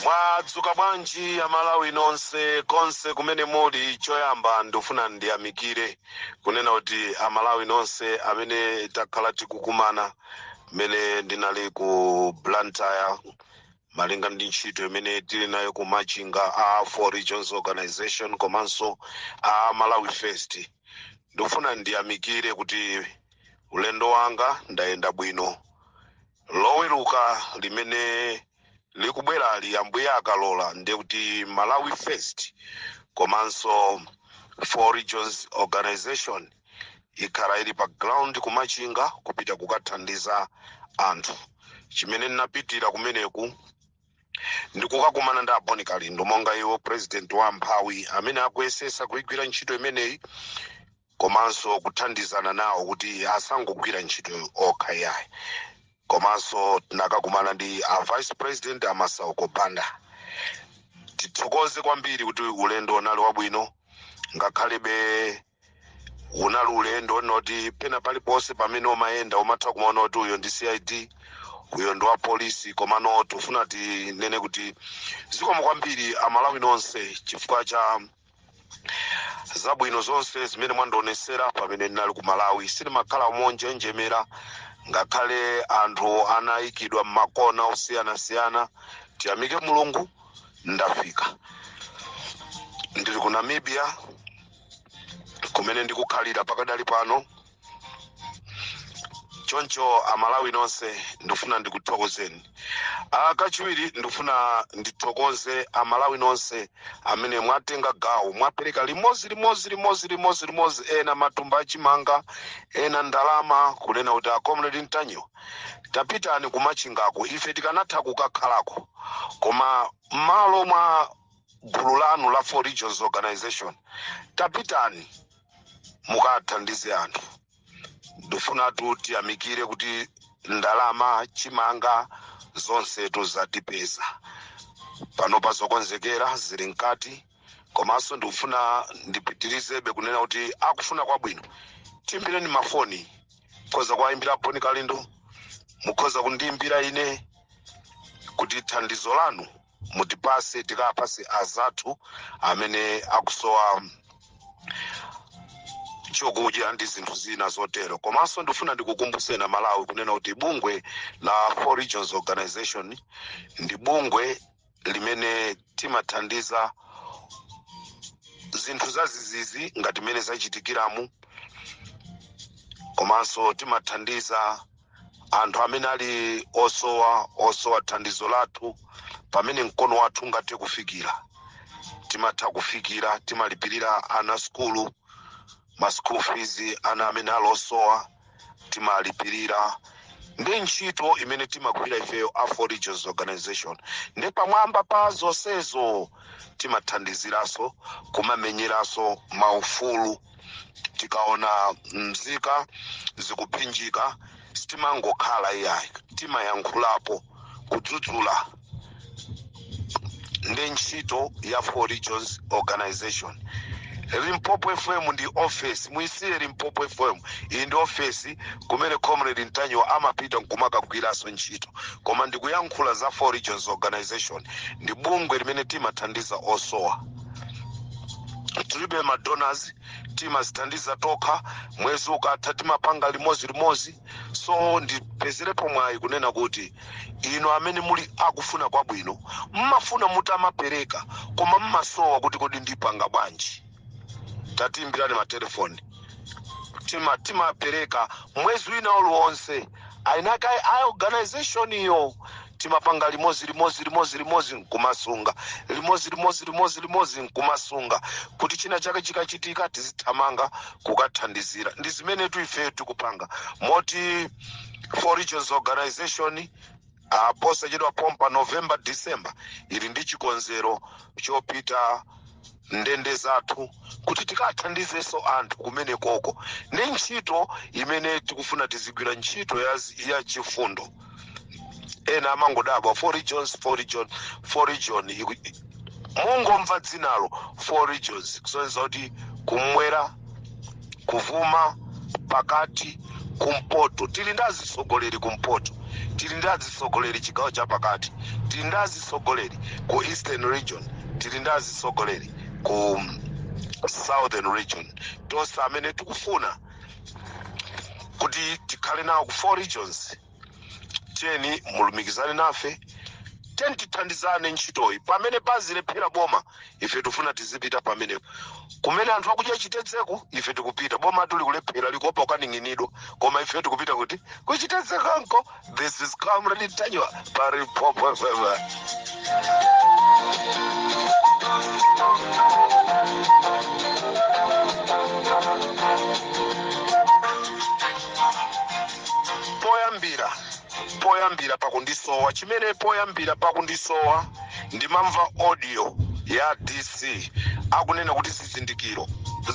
mwadzuka bwanji aMalawi nonse konse kumene muli choyamba ndifuna ndiyamikire kunena kuti aMalawi nonse amene takhala tikukumana mmene ndinali ku blantyre malinga ndi ntchito imene tili nayo ku machinga a four regions organization komanso a malawi first ndikufuna ndiyamikire kuti ulendo wanga ndayenda bwino loweruka limene likubwerali ambuye akalola ndiye kuti malawi first komanso four regions organization ikhala ili pa ground ku machinga kupita kukathandiza anthu chimene ndinapitira kumeneku ndikukakumana ndi a bon kalindo monga iwo president wa amphawi amene akuyesesa kuigwira ntchito imeneyi komanso kuthandizana nawo kuti asangogwira ntchito okha yayi komanso tinakakumana ndi a vice president a masauko banda tithokoze kwambiri kuti ulendo unali wabwino ngakhalebe unali ulendo woti pena paliponse pamene umayenda umatha kumaona kuti uyo ndi cid uyo ndi wapolisi komano tifuna tinene kuti zikomo kwambiri aMalawi nonse chifukwa cha zabwino zonse zimene mwandionesera pamene ndinali ku malawi sindimakhala monjenjemera ngakhale anthu anayikidwa m'makona osiyanasiyana tiyamike mulungu ndafika ndili ku namibia kumene ndikukhalira pakadali pano choncho aMalawi nonse ndifuna ndikuthokozeni Ah, kachiwiri ndifuna ndithokoze aMalawi nonse amene mwatenga gawo mwapereka limodzi limodzi limodzi limodzi limodzi ena matumba achimanga ena ndalama kunena kuti a comrade ntanyiwa tapitani ku machingako ife tikanatha kukakhalako koma m'malo mwa gulu lanu la four regions organization tapitani mukathandize anthu ndifunatu tiyamikire kuti ndalama chimanga zonse tu zatipeza pano pa zokonzekera zili mkati komanso ndikufuna ndipitirizebe kunena kuti akufuna kwabwino tiimbireni mafoni mukhoza kuwayimbira a bon kalindo mukhoza kundiyimbira ine kuti thandizo lanu mutipase tikapase azathu amene akusowa chokudya ndi zinthu zina zotero komanso ndifuna ndikukumbutseni amalawi kunena kuti bungwe la four regions organization ndi bungwe limene timathandiza zinthu zadzidzidzi ngati mmene zachitikiramu komanso timathandiza anthu amene ali osowa osowa thandizo lathu pamene mkono wathu ungathe kufikira timatha kufikira timalipirira ana sukulu ma school fees ana amene ali osowa timalipirira ndi ntchito imene timagwira ifeyo a four regions organization ndi pamwamba pa zonsezo timathandiziranso kumamenyeranso maufulu tikaona mzika zikuphinjika sitimangokhala iyayi timayankhulapo kudzudzula ndi ntchito ya four regions organization limpopo fm ndi office muisiye limpopo fm iyi ndi office kumene comrade ntanyiwa amapita nkumakagwiranso ntchito koma ndikuyankhula za four regions organization ndi bungwe limene timathandiza osowa tilibe madonors timadzithandiza tokha mwezi ukatha timapanga limodzi limodzi so ndipezerepo mwayi kunena kuti inu amene muli akufuna kwabwino mmafuna mutamapereka koma mmasowa kuti kodi ndipanga bwanji tatiimbirani matelefoni tima timapereka mwezi wina uliwonse aina kaye a organization iyo timapanga limozi limozi limozi limozi nkumasunga limozi limozi limozi limozi nkumasunga kuti china chake chikachitika tizithamanga kukathandizira ndi zimene tuifeyo tikupanga moti for regions organization a posachedwa pompa november december ili ndi chikonzero chopita ndende zathu kuti tikathandizenso anthu kumeneko ndi ntchito imene tikufuna tizigwira ntchito ya, ya chifundo ena amangodabwa four regions four region four region iku- mungomva dzinalo four regions kusonyeza kuti kumwera kuvuma pakati kumpoto tili ndi azitsogoleri kumpoto tili ndi azitsogoleri chigawo cha pakati tili ndi azitsogoleri ku eastern region tili ndi azitsogoleri ku southern region tonse amene tikufuna kuti tikhale nawo ku four regions tiyeni mulumikizane nafe tiyeni tithandizane ntchitoyi pamene pazilephera boma ife tifuna tizipita pamenepo kumene anthu akudya chitedzeku ife tikupita boma lilikulephera likuopa kukaning'inidwa koma ife tikupita kuti kuchitedzekanko this is comrade ntanyiwa pa limpopo poyambira poyambira pakundisowa chimene poyambira pakundisowa ndimamva audio ya dc akunena kuti zizindikiro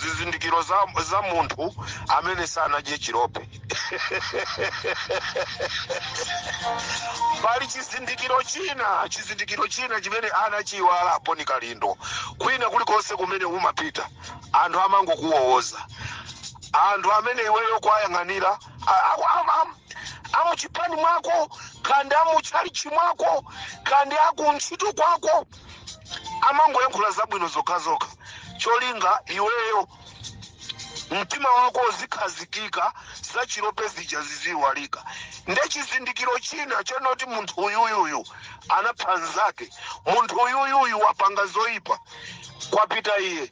zizindikiro za, za munthu amene sanadye chilope pali chizindikiro china chizindikiro china chimene anachiiwala a Boni Kalindo kwina kulikonse kumene umapita anthu amangokuwowoza anthu amene iweyo kuwayang'anira a- aku- am- am- amuchipani mwako kandi amuchalichi mwako kandi akuntchito kwako amangoyankhula zabwino zokhazokha cholinga iweyo mtima wako uzikhazikika za chilope zija ziziyiwalika nde chizindikiro china chonoti munthu uyuyuyu anapha nzake munthu uyuyuyu wapanga zoyipa kwapita iye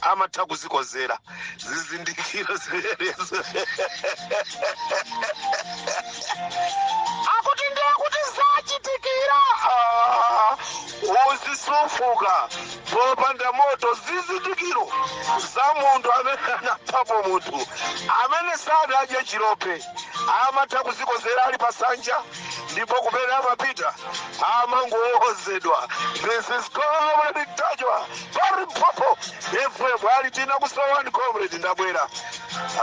amatha kuzikodzera zizindikiro zimenezo akuti ndiye kuti zachitikira utsi sufuka popanda moto zizindikiro za munthu amene anaphapo munthu amene sanadye chilope amatha kuzikodzera ali pasanja ndipo kumene amapita amangowozedwa this is comrade Ntanyiwa pa Limpopo FM a litina kusowani comrade ndabwera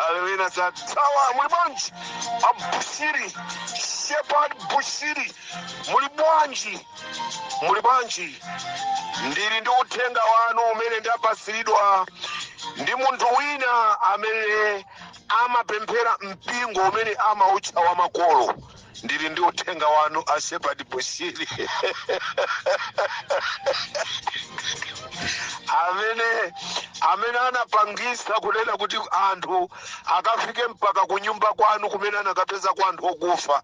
alewina za tawa muli bwanji a Bushiri Shepherd Bushiri muli bwanji muli bwanji ndili ndi uthenga wanu umene ndapatsiridwa ndi munthu wina amene amapemphera mpingo umene amautcha wa makolo ndili ndi uthenga wanu a shepherd bushiri amene amene anapangitsa kunena kuti anthu akafike mpaka kunyumba kwanu kumene anakapeza kwa anthu okufa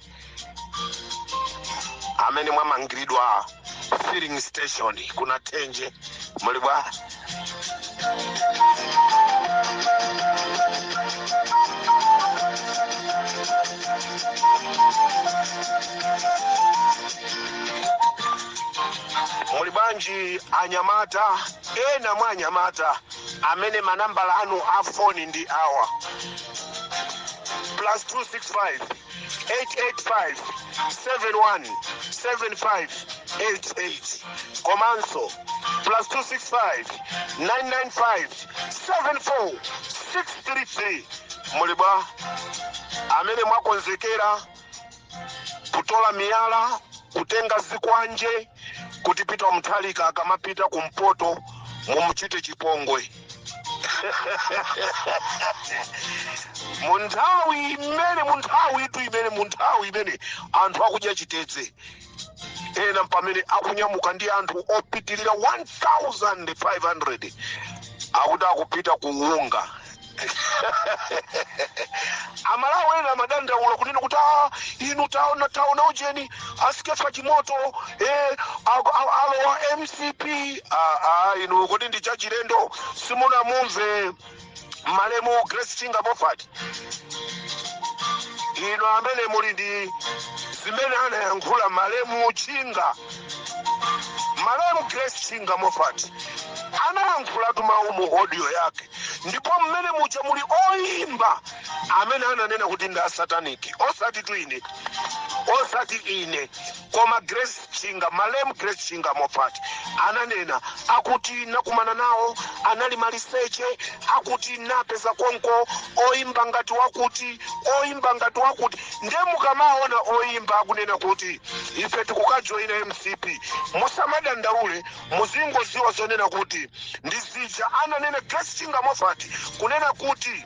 amene mwamangiridwa filling station ku Nathenje muli bwa muli bwanji anyamata ena mwa anyamata amene manambala awo a foni ndi awa plus 265 885-71-7588 komanso plus 265-995-74633 muli bwa amene mwakonzekera kutola miyala kutenga zikwanje kuti Peter Mutharika akamapita kumpoto mumuchite chipongwe mu nthawi imene mu nthawi tu imene mu nthawi imene anthu akudya chitedze ena pamene akunyamuka ndi anthu opitirira 1500 akuti akupita kuunga amalawi ena amadandaula kunena kuti "Ah, inu taona taona ujeni a Skeffa Chimoto eh, aku- a- alowa mcp ah, ah, inu kuti ndi chachilendo simunamumve malemu grace chinga Moffat inu amene muli ndi zimene anayankhula malemu chinga malemu grace chinga Moffat anayankhulatu mawu mu audio yake ndipo mmene muja muli oyimba amene ananena kuti ndi asataniki osatitu ine osati ine koma grace chinga malemu grace chinga Moffat ananena akuti nakumana nawo anali maliseche akuti napeza konko oyimba ngati wakuti oyimba ngati wakuti nde mukamaona oyimba akunena kuti ife tikukajoyina mcp musamadandaule muzingoziwa zonena kuti ndizija ananena grace chinga Moffat kunena kuti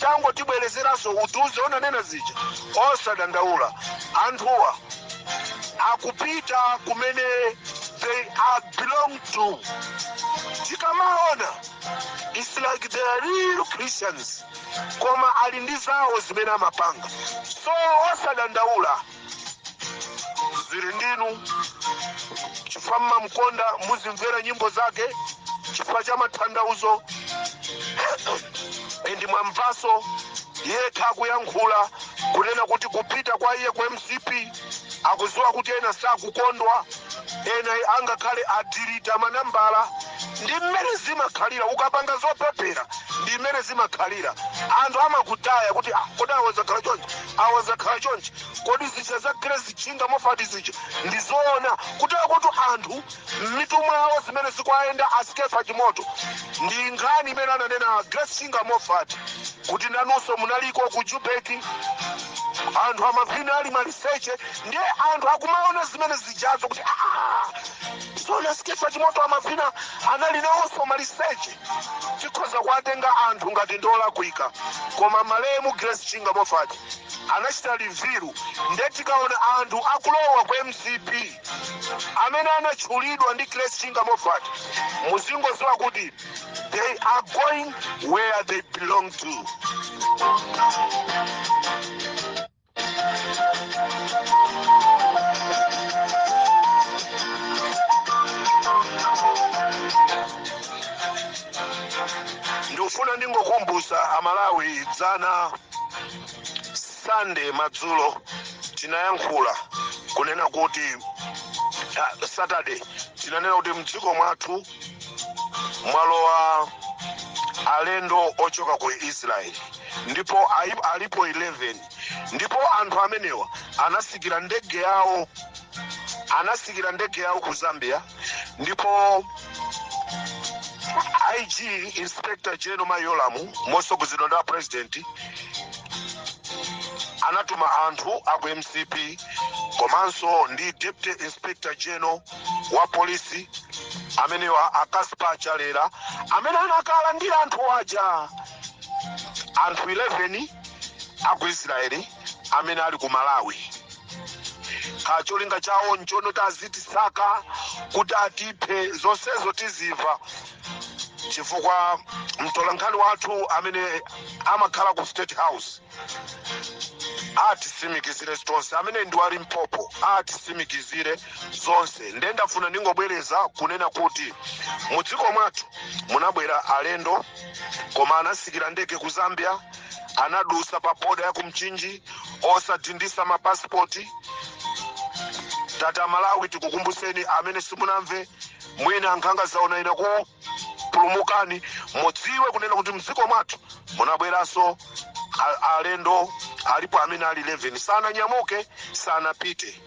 tangotibwerezeranso utiuze unanena zija osadandaula anthuwa akupita kumene they belong to tikamaona it's like they are real christians koma ali ndi zawo zimene amapanga so osadandaula zili ndinu chifukwa mmamkonda muzimvera nyimbo zake chifukwa cha mathandauzo and mwamvaso yekha akuyankhula kunena kuti kupita kwa iye ku mcp akuziwa kuti ena sakukondwa ena angakhale adirita manambala ndi mmene zimakhalira ukapanga zopepera ndi mmene zimakhalira anthu amakutaya kuti ah, kodi awa zakhala chonchi awa zakhala chonchi kodi zija za grace chinga Moffat zija ndizoona kuti akuti anthu m'mitu mwawo zimene zikuayenda a Skeffa Chimoto ndi nkhani imene ananena grace chinga Moffat kuti nanunso munaliko ku jubeki anthu amavina ali maliseche ndiye anthu akumaona zimene zijazo kuti "Ah, zoona Skeffa Chimoto amavina anali nawonso maliseche Tikhoza kuwatenga anthu ngati ndi olakwika koma malemu Grace Chinga Moffat anachita livilu nde tikaona anthu akulowa ku mcp amene anatchulidwa ndi Grace Chinga Moffat muzingoziwa kuti they are going where they belong to. ndikufuna ndingokumbusa amalawi dzana sande madzulo tinayankhula kunena kuti ah, saturday tinanena kuti mdziko mwathu mwalowa alendo ochoka ku israeli ndipo ayi- alipo 11 ndipo anthu amenewa anasikira ndege yawo anasikira ndege yawo ku zambia ndipo ig inspector general mayolamu mosogozedwa ndi a president anatuma anthu aku mcp komanso ndi deputy inspector general wa polisi amenewa akaspa chalera amene anakalandira anthu aja anthu 11 aku israeli amene ali ku malawi kaya cholinga chawo nchoti azitisaka kuti atiphe zonsezo tiziva chifukwa mtolankhani wathu amene amakhala ku state house atisimikizire zonse amene ndi wa limpopo atisimikizire zonse nde ndafuna ndingobwereza kunena kuti mu dziko mwathu munabwera alendo koma anasikira ndege ku zambia anadusa pa boda ya kumchinji osadindisa mapasipoti tati amalawi tikukumbuseni amene simunamve mwina nkhanga zaona inu ku pulumukani mudziwe kunena kuti mdziko mwathu munabweranso a- alendo alipo amene ali 11 sananyamuke sanapite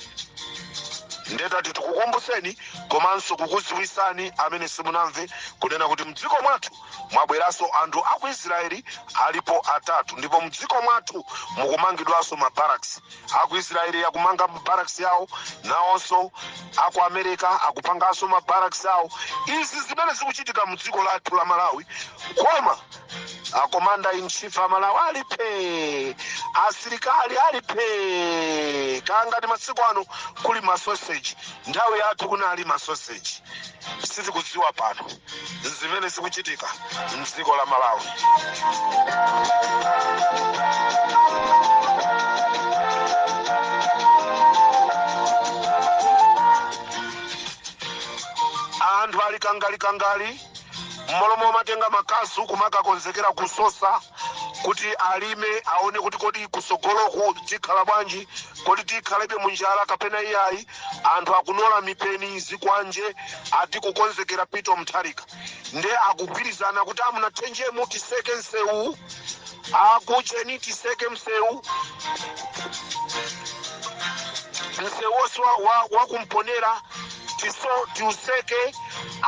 nde tati tikukumbuseni komanso kukuziwisani amene simunamve kunena kuti mdziko mwathu mwabweranso anthu aku israeli alipo atatu ndipo mdziko mwathu mukumangidwanso mabaraks aku israeli akumanga mabaraks yawo nawonso aku america akupanganso mabaraks awo izi zimene zikuchitika mu dziko lathu la malawi koma akomanda in chief amalawi ali phee asilikali ali phee kaya ngati masiku ano kuli masoseji nthawi yathu kunali masoseji sitikudziwa pano zimene zikuchitika mdziko la malawi anthu ali kangali-kangali mmalo momatenga makasu kumakakonzekera kusosa kuti alime aone kuti kodi kusogoloku tikhala bwanji kodi tikhalebe munjala kapena iyayi anthu akunola mipeni zikwanje ati kukonzekera Peter Mutharika nde akugwirizana kuti amu Nathenjemo tiseke msewu aku Cheni tiseke msewu msewu wonse wa- wa- waku Mponela tiso tiuseke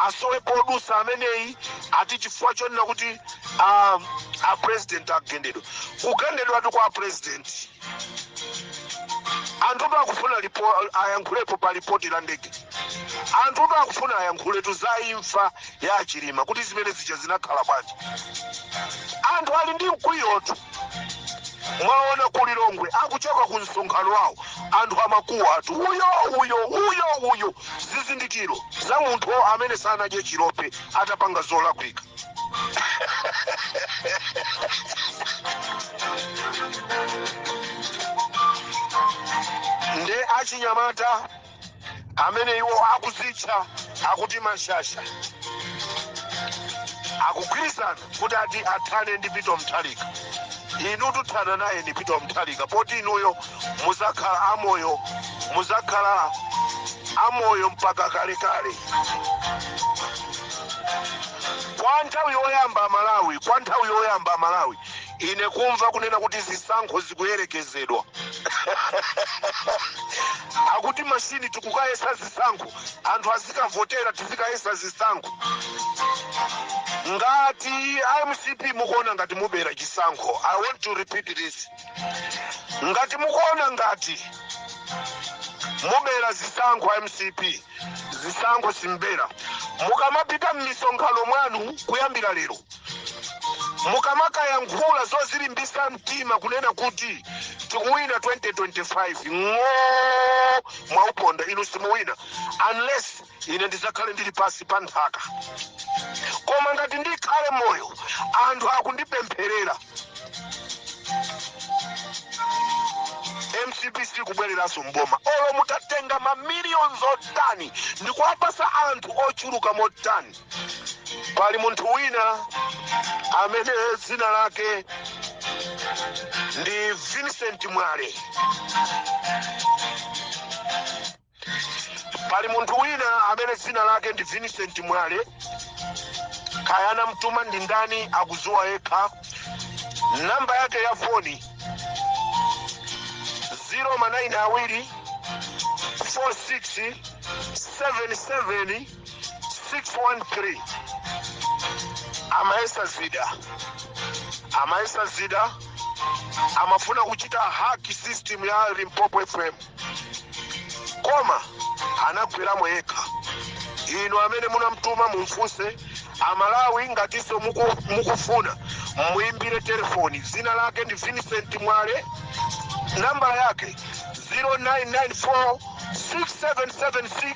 asowe podusa ameneyi ati chifukwa chonena kuti ah, a president agendedwa kugendedwanso kwa president anthu pa akufuna lipo, ayankhulepo pa lipoti la ndege anthu pa akufuna ayankhulepotu za imfa ya Chilima kuti zimene zija zinakhala bwanji anthu ali ndi mkwiyotu mwaona ku lilongwe akuchoka ku msonkhano wawo anthu amakuwa atu uyo uyo uyo uyo zizindikiro za munthu amene anadya chilope atapanga zolakwika nde achinyamata amene iwo akuzitcha akuti mashasha akugwirizana kuti ati athane ndi Peter Mutharika inu muthana naye ndi Peter Mutharika poti inuyo muzakhala amoyo muzakhala amoyo mpaka kalekale kwa nthawi yoyamba amalawi kwa nthawi yoyamba amalawi ine kumva kunena kuti zisankho zikuyerekezedwa akuti mashini tikukayesa zisankho anthu azikavotera tizikayesa zisankho ngati a mcp mukuona ngati mubera chisankho i want to repeat this ngati mukuona ngati mubera zisankho a mcp zisankho simbera mukamapita m'misonkhano mwanu kuyambira lero mukamakayankhula zozilimbisa mtima kunena kuti tikuwina 2025 ng'oo mwauponda inu simuwina unless ine ndizakhale ndili pansi pa nthaka koma ngati ndikhale moyo anthu akundipempherera mcp sikubwereranso mboma olo mutatenga mamiliyonizi otani ndikuwapasa anthu ochuluka motani Pali munthu wina amene dzina lake ndi Vincent Mwale. Pali munthu wina amene dzina lake ndi Vincent Mwale. Kaya anamtuma ndi ndani akudziwa yekha. Namba yake ya foni 0 manayini awiri 46 77 613 amayesa zida amayesa zida amafuna kuchita hack system ya limpopo fm koma anagweramo yekha inu amene munamtuma mumfunse amalawi ngatinso muku- mukufuna muimbire telefoni dzina lake ndi vincent mwale nambala yake 0994 6776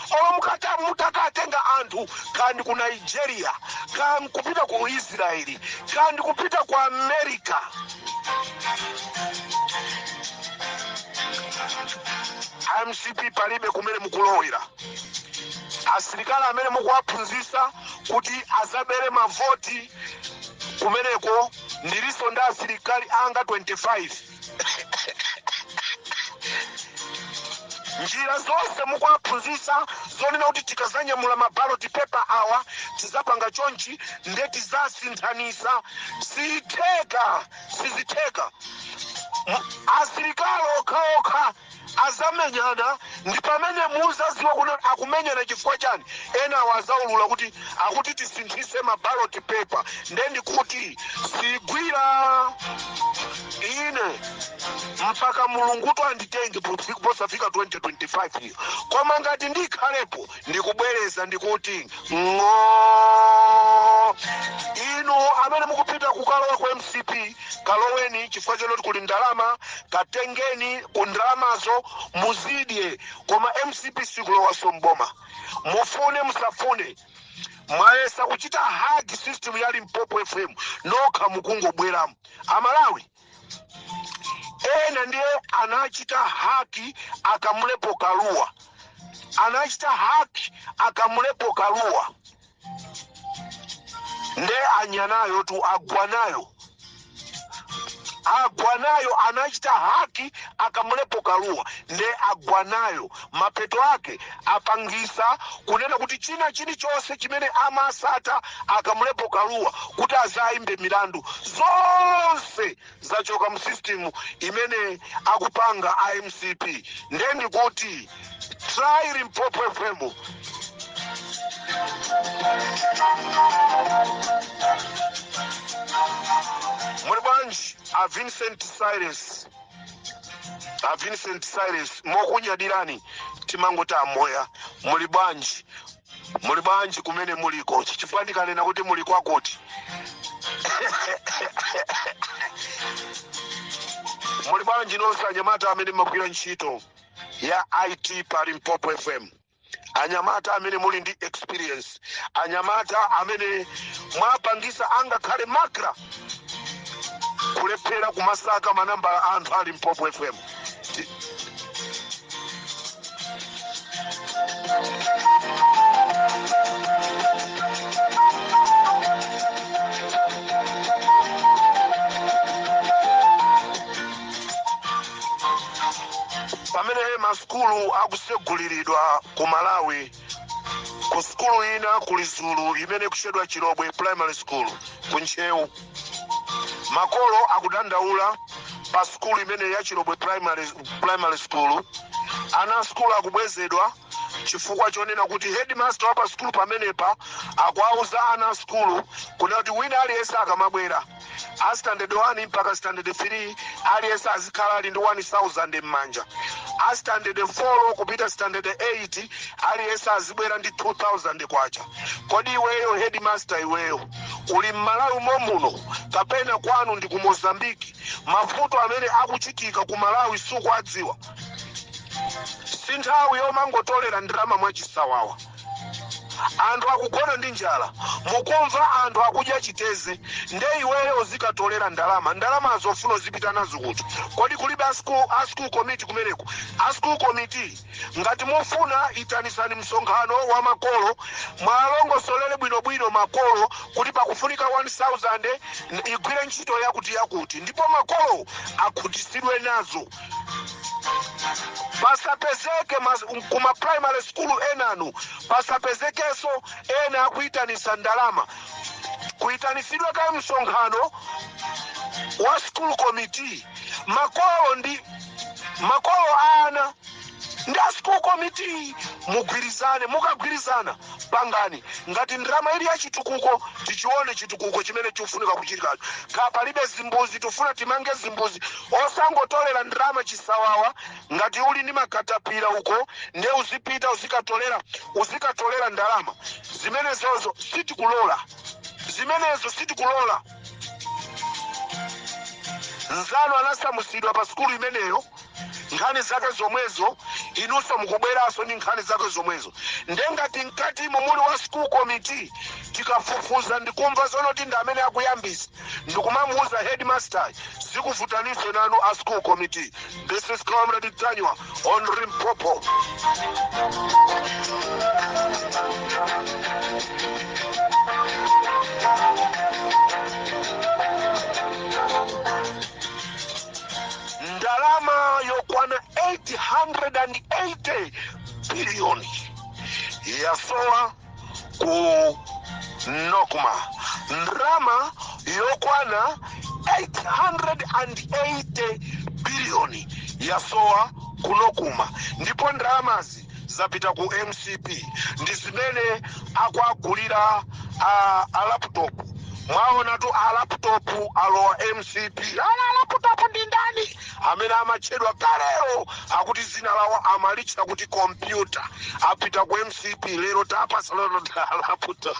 Olo mutaka, mutakatenga anthu kaya ndi ku Nigeria, kaya nkupita ku Israel, kaya ndi kupita ku America, a mcp palibe kumene mukulowera. Asilikali amene mukuwaphunzisa kuti azabere mavoti kumeneko, ndilinso ndi asilikali anga 25. njira zonse mukuwaphunzitsa zonena kuti tikazanyamula mabaloti pepa awa tizapanga chonchi nde tizasinthanisa sitheka sizitheka asilikali okhaokha azamenyana ndipamene muzaziwa kuti akumenyana chifukwa chani enawo azaulula kuti akuti tisinthise ma ballot paper nde ndikuti sigwira ine mpaka mulunguyo anditenge pofi- posafika 2025 iyo koma ngati ndikhalepo ndikubwereza ndikuti ng'oo inu amene mukupita kukalowa ku mcp kaloweni chifukwa choti kuli ndalama katengeni ku ndalamazo muzidye koma mcp sikulowaso mboma mufune musafune mwayesa kuchita hack system ya limpopo fm nokha mukungogweramo amalawi ena ndiye anachita haki akamulepo kaluwa anachita haki akamulepo kaluwa nde anya nayo tu agwa nayo agwa nayo anachita haki akamulepo kaluwa nde agwa nayo mapeto ake apangisa kunena kuti china chilichonse chimene amamsata akamulepo kaluwa kuti azaaimbe milandu zonse zachoka mu system imene akupanga a mcp ndiye ndikuti try limpopo fm muli bwanji a vincent cyrus a vincent cyrus pokunyadirani timangoti amoya muli bwanji muli bwanji kumene muliko chifukwa ndikanena kuti muli kwakuti muli bwanji nonse anyamata amene magwira ntchito ya it pa limpopo fm anyamata amene muli ndi experience anyamata amene mwapangisa angakhale makra kulephera kumasaka manambala a anthu a Limpopo fm Ti- pamene masukulu akuseguliridwa ku malawi ku sukulu ina ku Lizulu imene ikutchedwa chilobwe primary school ku ntcheu makolo akudandaula pa sukulu imeneyi ya chilobwe primary, primary school ana asukulu akubwezedwa chifukwa chonena kuti headmaster wa pa sukulu pamenepa akuwauza ana asukulu kunena kuti wina aliyense akamabwera a standard 1 mpaka standard 3 aliyense azikhala ali ndi 1000 m'manja a standard 4 kupita standard 8 aliyense azibwera ndi 2000 kwacha kodi iweyo headmaster iweyo uli m'malawi momuno kapena kwanu ndi ku Mozambique mavuto amene akuchitika ku malawi sukuwadziwa si nthawi yomangotolera ndalama mwachisawawa anthu akugona ndi njala mukumva anthu akudya chiteze nde iweyo uzikatolera ndalama ndalama zake ufuna uzipita nazo kuti kodi kulibe a school, a school committee kumeneko a school committee ngati mufuna itanisani msonkhano wa makolo muwalongosolere bwinobwino makolo kuti pakufunika 1000 igwire ntchito yakuti yakuti ndipo makolo akhutisidwe nazo pasapezeke mas- kuma primary school enanu pasapezekenso ena akuyitanisa ndalama kuyitanisidwe kaye msonkhano wa school committee makolo ndi makolo a ana ndi a school committee mugwirizane mukagwirizana pangani ngati ndalama ili ya chitukuko tichione chitukuko chimene chikufunika kuchitikacho kaya palibe zimbuzi tifuna timange zimbuzi osangotolera ndalama chisawawa ngati uli ndi makatapira uko nde uzipita uzikatolera uzikatolera ndalama zimenezozo sitikulola zimenezo sitikulola nzanu anasamusidwa pa sukulu imeneyo nkhani zake zomwezo inunso mukubweranso ndi nkhani zake zomwezo nde ngati mkatimo muli wa school committee tikafufuza ndikumva zonoti ndi amene akuyambisa ndikumamuuza headmaster zikuvutaninso nanu a school committee this is comrade Ntanyiwa on Limpopo Ndalama yokwana 880 biliyoni yasowa ku Nocma. Ndalama yokwana 880 biliyoni yasowa ku Nocma ndipo ndalamazi zapita ku mcp ndi zimene akuwagulira a, a laptop mwaonatu a laptop alowa mcp ana laptop ndi ndani amene amatchedwa kalelo akuti dzina lawo amalitcha kuti kompyuta apita ku mcp lero tapasa lero ta laptop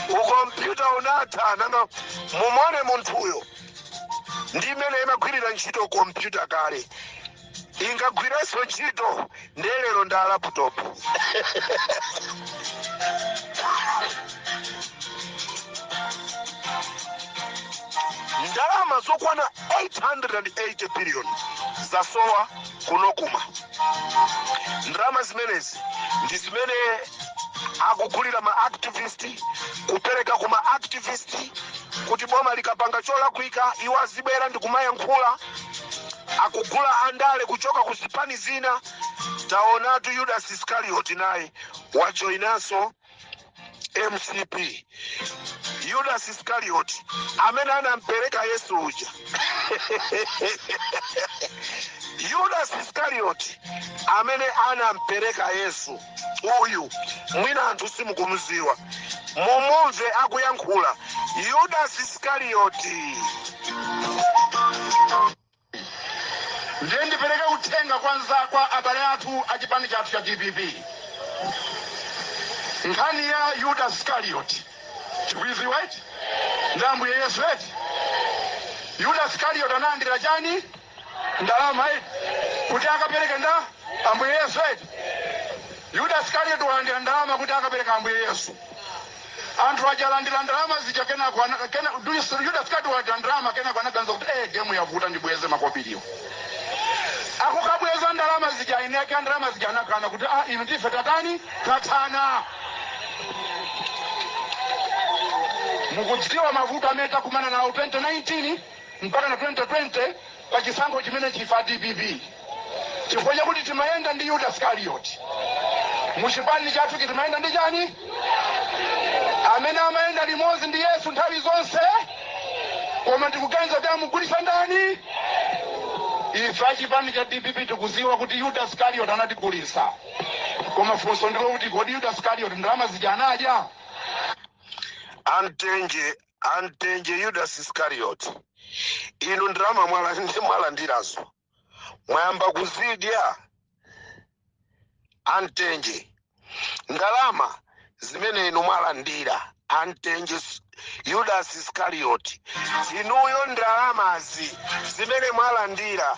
ukompyuta unatha nanga mumone munthuyo ndi imene imagwirira ntchito kompyuta kale ingagwiranso ntchito ndiye lero ndi a laptop ndalama zokwana 880 biliyoni zasowa ku Nocma ndalama zimenezi ndi zimene akugulira ma activist kupereka ku ma activist kuti boma likapanga cholakwika iwo azibwera ndi kumayankhula akugula andale kuchoka ku zipani zina taonatu yudasi iskarioti naye wajoyinanso mcp yudas iskarioti amene anampereka yesu uja yudas iskarioti amene anampereka yesu uyu mwina anthu simukumuziwa mumumve akuyankhula yudas iskarioti Ndiye ndipereke uthenga kwa anza kwa abale athu a chipani chathu cha dpp. Nkhani ya Yuda Skarioti tikuiziwa eti ndi Ambuye Yesu eti. Yuda Skarioti analandira chani ndalama eti kuti akapereke ndani Ambuye Yesu eti. Yuda Skarioti walandira ndalama kuti akapereka Ambuye Yesu. Anthu aja alandira ndalama zija kenako ana- kena- du- Yuda Iskarioti walandira ndalama kenako anaganiza kuti eh game yavuta ndibweze makobiriwo. Akukabweza ndalama zija eni ake ndalama zija anakana kuti ah inu ndi ife tathana tathana. Mukudziwa mavuto amene takumana nawo 2019 mpaka na 2020 pa chisankho chimenechi ife a dpp chifukwa chakuti timayenda ndi yuda skarioti muchipani chathuchi timayenda ndi chani amene amayenda limodzi ndi yesu nthawi zonse koma ndikuganiza kuti amugulisa ndani ife achipani cha dpp tikuziwa kuti yuda skarioti anatigulisa koma funso ndilo kuti kodi yuda skarioti ndalama zija anadya amtenje amtenje yudas iskarioti inu ndalama mwalandirazo mwayamba kuzidya amtenje ndalama zimene inu mwalandira amtenje s- yudas iskarioti inuyo ndalamazi zimene mwalandira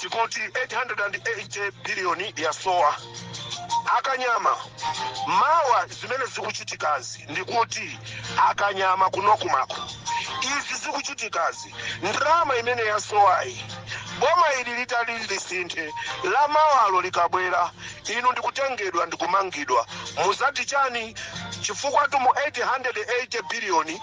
tikuti 880 biliyoni yasowa akanyama mawa zimene zikuchitikazi ndikuti akanyama kunokumako izi zikuchitikazi ndalama imene yasowayi boma ili litati lisinthe la mawalo likabwera inu ndikutengedwa ndikumangidwa muzati chani chifukwa tumu 880 biliyoni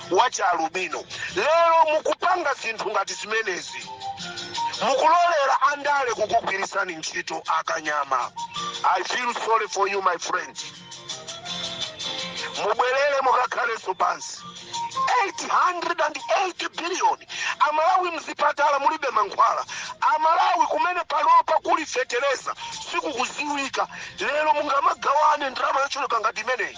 wa chialubino lero mukupanga zinthu ngati zimenezi mukulolera andale kukugwirisani ntchito akanyama i feel sorry for you my friend mubwerere mukakhalenso pansi 880 biliyoni amalawi mzipatala mulibe mankhwala amalawi kumene panopa kuli fetereza sikukuziwika lero mungamagawane ndalama yochuluka ngati imeneyi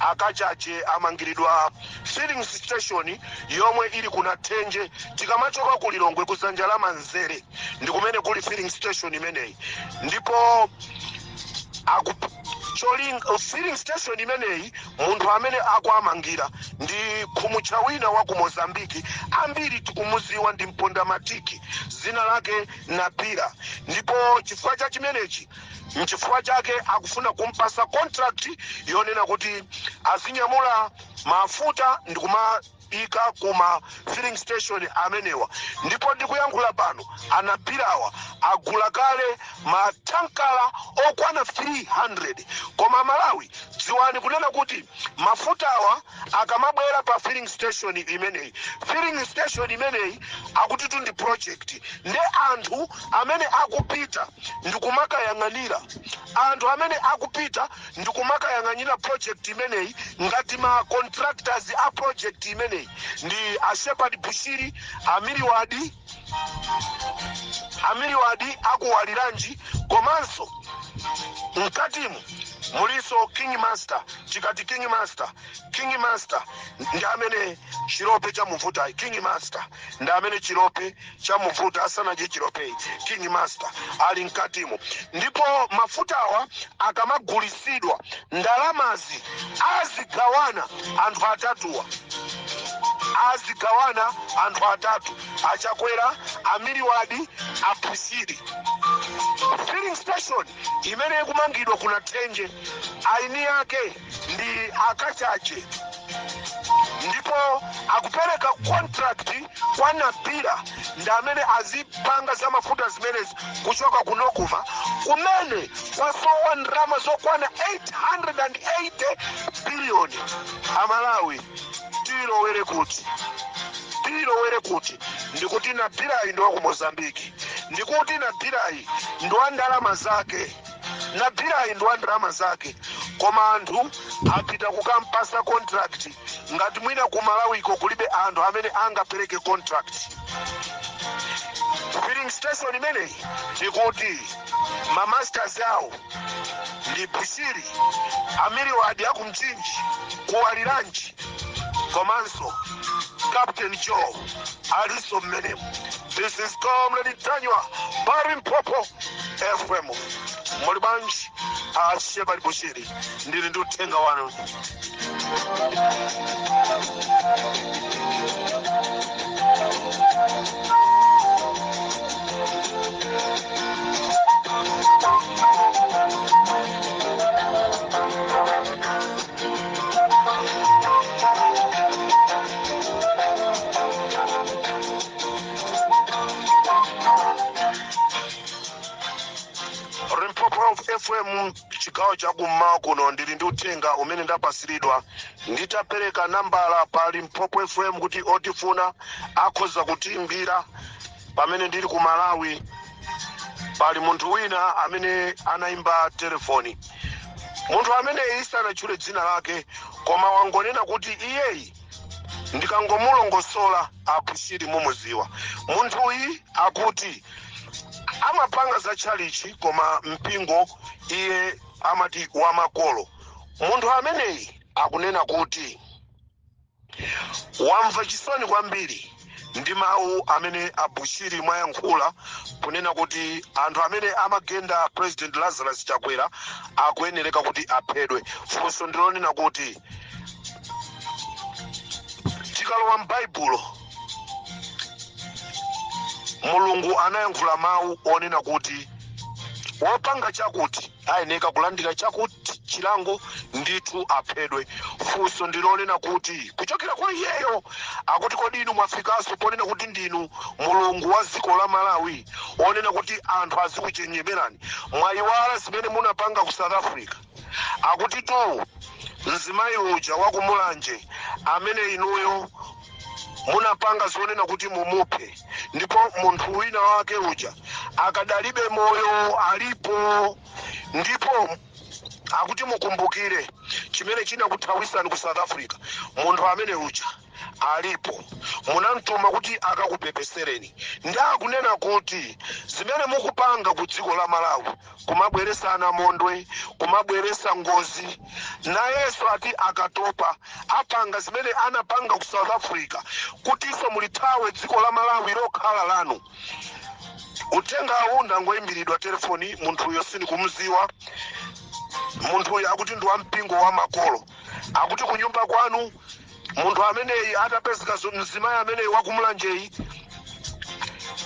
A Kachaje amangiridwa fillings station yomwe ili ku Nathenje tikamachoka ku Lilongwe ku dzanja la manzere ndi kumene kuli filling station imeneyi ndipo aku cholinga filling station imeneyi munthu amene akuamangira ndi khumutcha wina wa ku mozambiki ambiri tikumuziwa ndi mpondamatiki dzina lake napira ndipo chifukwa cha chimenechi nchifukwa chake akufuna kumpasa contract yonena kuti azinyamula mafuta ndikumaika kuma filling station amenewa ndipo ndikuyankhula pano anapirawa agula kale matankala okwana 300 koma malawi dziwani kunena kuti mafutawa akamabwera pa filling station imeneyi filling station imeneyi akutitu ndi project nde anthu amene akupita ndikumakayang'anira anthu amene akupita ndikumakayang'anira project imeneyi ngati ma contractors a project imeneyi ndi a shepherd bushiri amiriwadi amiliwadi akuwaliranji komanso mkatimu mulinso king master tikati king master king master ndi amene chilope chamuvuta king master ndi amene chilope chamuvuta asanadye chilopeyi king master ali mkatimu ndipo mafutawa akamagulisidwa ndalamazi azigawana anthu atatuwa azigawana anthu atatu achakwera a Muluzi wati a Bushiri filling station imene ikumangidwa ku Nathenje aini yake ndi akachaje ndipo akupereka contract kwa Napila ndi amene azipanga za mafuta zimenezi kuchoka ku Nocma kumene kwasowa ndalama zokwana 880 biliyoni. Amalawi tilowere kuti tilowere kuti ndikuti Napilayi ndi wa ku Mozambiki ndikuti Napilayi ndi wa ndalama zake. napilayi ndi wa ndalama zake koma anthu apita kukampasa contract ngati mwina ku malawiko kulibe anthu amene angapereke contract filling station imeneyi ndikuti mamasters awo ndi bushiri amiriwadi aku mchinji ku waliranji komanso captain joe alinso mmenemo this is comrade ntanyiwa pa limpopo fm muli bwanji a shepherd bushiri ndili ndi uthenga wanu Limpopo FM chigawo cha kummawa kuno ndili ndi uthenga umene ndapasiridwa nditapereka nambala pa Limpopo FM kuti otifuna akhoza kutiimbira pamene ndili ku malawi pali munthu wina amene anaimba telefoni munthu ameneyi sanatchule dzina lake koma wangonena kuti iyeyi ndikangomulongosola a bushiri mumuziwa munthuyi akuti amapanga za tchalichi koma mpingo iye amati wamakolo munthu ameneyi akunena kuti wamva chisoni kwambiri ndi mawu amene a bushiri mwayankhula kunena kuti anthu amene amagenda president lazarus chakwera akuyenereka kuti aphedwe funso ndilonena kuti tikalowa m'baibulo mulungu anayankhula mawu onena kuti wopanga chakuti ayeneka kulandira chakuti chilango ndithu aphedwe funso ndilonena kuti kuchokera kwa iyeyo akuti kodi inu mwafikanso ponena kuti ndinu mulungu wa dziko la malawi onena kuti anthu azikuchemererani mwayiwala zimene munapanga ku south africa akuti tu mzimayi uja wakumulanje amene inuyo munapanga zonena kuti mumuphe ndipo munthu wina wake uja akadali moyo alipo ndipo akuti mukumbukire chimene chinakuthawisani ku south africa munthu amene uja alipo munamtuma kuti akakupepesereni ndi akunena kuti zimene mukupanga ku dziko la malawi kumabweresa anamondwe kumabweresa ngozi nayenso ati akatopa apanga zimene anapanga ku south africa kutinso mulithawe dziko la malawi lokhala lanu uthenga uwu ndangoyimbiridwa telefoni munthuyo sindikumziwa munthuyo akuti ndi wampingo wa makolo akuti kunyumba kwanu munthu ameneyi atapezeka zo- mzimayi ameneyi wakumulanjeyi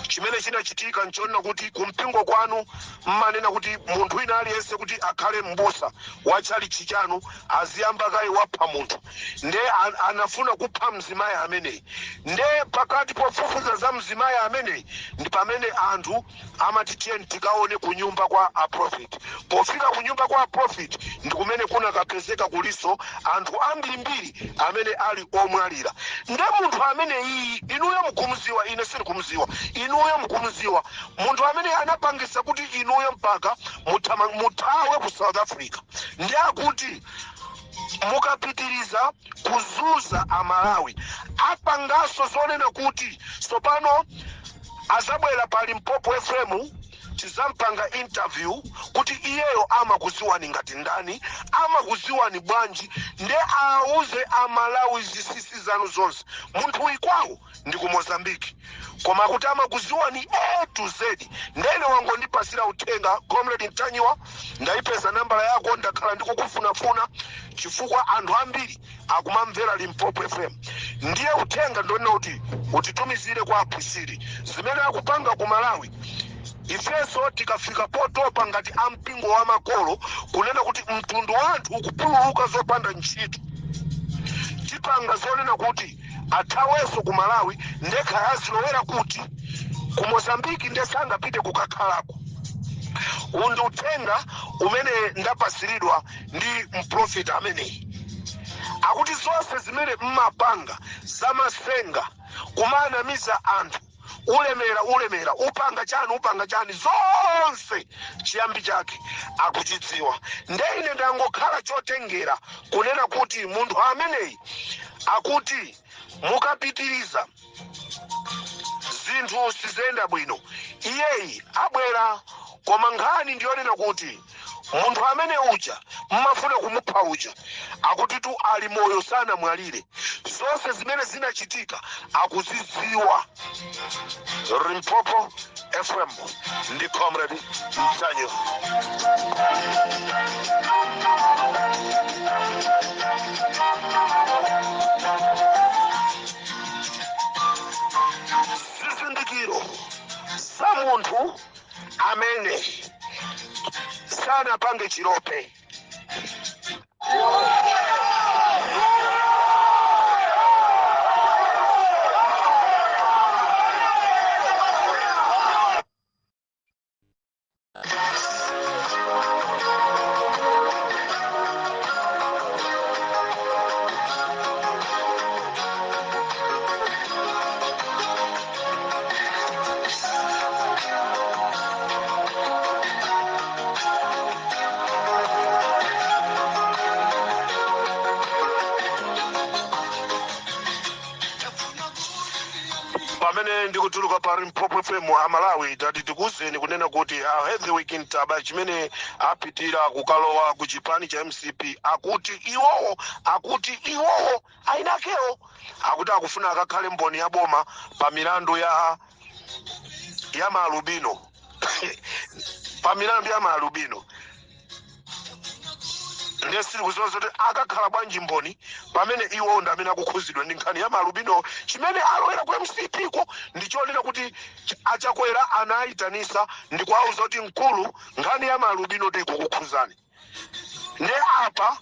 chimene chinachitika nchonena kuti kumpingo kwanu mmanena kuti munthu wina aliyense kuti akhale m'busa wa tchalichi chanu aziyamba kaye wapha munthu nde an- anafuna kupha mzimayi ameneyi nde pakati pofufuza za mzimayi ameneyi ndi pamene anthu amati tiyeni tikaone kunyumba kwa a prophet pofika kunyumba kwa a prophet ndi kumene kunakapezeka kulinso anthu ambirimbiri amene ali omwalira nde munthu ameneyi inuyo mukumuziwa ine sindikumuziwa inuyo mukumuziwa munthu amene anapangisa kuti inuyo mpaka muthama- muthawe ku south africa ndi akuti mukapitiriza kuzunza amalawi apanganso zonena kuti tsopano azabwera pa limpopo fm tizampanga interview kuti iyeyo amakuziwani ngati ndani amakuziwani bwanji nde awauze amalawi zinsinsi zanu zonse munthuyi kwawo ndi ku mozambique koma akuti amakuziwani a to z ndene wangondipasira uthenga comrade mtanyiwa ndayipeza nambala yako ndakhala ndikukufunafuna chifukwa anthu ambiri akumamvera limpopo fm ndiye uthenga ndonena kuti utitumizire kwa a bushiri zimene akupanga ku malawi ifenso tikafika potopa ngati ampingo wa makolo kunena kuti mtundu wa anthu ukupululuka zopanda ntchito tipanga zonena kuti athawenso ku malawi nde kaya azilowera kuti ku mozambiki nde sangapite kukakhalako uwu ndi uthenga umene ndapasiridwa ndi mprofeti ameneyi akuti zonse zimene mmapanga zamasenga kumanamiza anthu ulemera ulemera upanga chani upanga chani zonse chiyambi chake akuchidziwa ndiye ine ndangokhala chotengera kunena kuti munthu ameneyi akuti mukapitiriza zinthu siziyenda bwino iyeyi abwera koma nkhani ndiyonena kuti munthu amene uja mmafuna kumupha uja akutitu ali moyo sanamwalire zonse zimene zinachitika akuzidziwa limpopo fm ndi comrade ntanyiwa zizindikiro za munthu amene sanapange chilope pamene ndikutuluka pa limpopo fm amalawi tati tikuwuzeni kunena kuti a heavyweight ntaba chimene apitira kukalowa ku chipani cha mcp akuti iwowo akuti iwowo a inakewo akuti akufuna akakhale mboni ya boma pa milandu ya ya maalubino pa milandu ya maalubino ndiye sitikudziwa kuti akakhala bwanji mboni pamene iwo ndi amene akukhuzidwa ndi nkhani ya maalubino chimene alowera ku mcp ko ndi chonena kuti ch- a chakwera anawayitanitsa ndi kuwauza kuti mkulu nkhani ya maalubino tikukukhuzani nde apa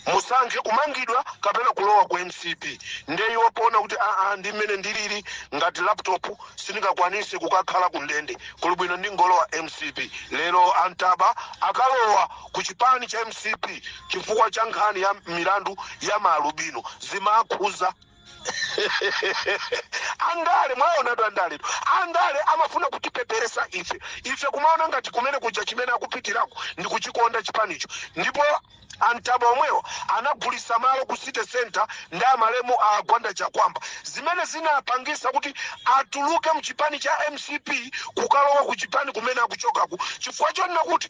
musankhe kumangidwa kapena kulowa ku mcp nde iwo poona kuti aa ndi mmene ndilili ngati laptop sindingakwanise kukakhala ku ndende kuli bwino ndingolowa mcp lero a ntaba akalowa ku chipani cha mcp chifukwa cha nkhani ya milandu ya maalubino zimakhuza andale mwaonatu andale andale amafuna kutipeperetsa ife ife kumaona ngati kumene kuja chimene akupitirako ndi kuchikonda chipanicho ndipo a ntaba omwewo anagulisa malo ku city center ndi amalemu a gwanda chakuamba zimene zinapangisa kuti atuluke mchipani cha mcp kukalowa ku chipani kumene akuchokaku chifukwa chonena kuti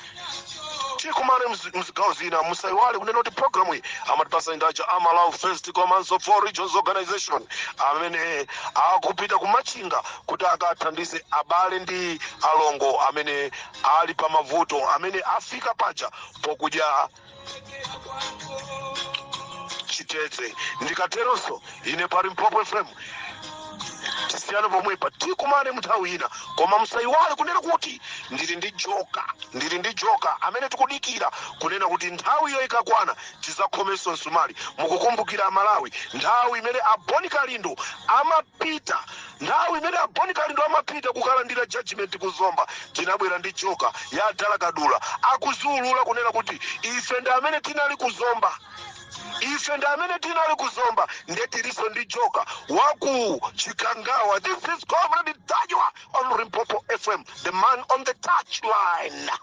tikumane mzi- mzigawo zina musaiwale kunena kuti programu iyi amatipasa ndi a a Malawi First komanso Four Regions Organization amene akupita ku Machinga kuti akathandize abale ndi alongo amene ali pa mavuto amene afika paja pokudya chitedze ndikateronso ine pa Limpopo FM tisiyane pomwepa tikumane mnthawi ina koma musayiwale kunena kuti ndili ndi joka ndili ndi joka amene tikudikira kunena kuti nthawiyo ikakwana tizakhomenso msumali mukukumbukira aMalawi nthawi imene a Bon Kalindo amapita Nthawi imene a Bon Kalindo amapita kukalandira judgement ku Zomba, tinabwera ndi Joker ya a Dala Kadula akuzaulula kunena kuti ife ndi amene tinali ku Zomba. Ife ndi amene tinali ku Zomba nde tilinso ndi Joker wa ku Chikangawa. This is Comrade Ntanyiwa on Limpopo FM, the man on the touchline.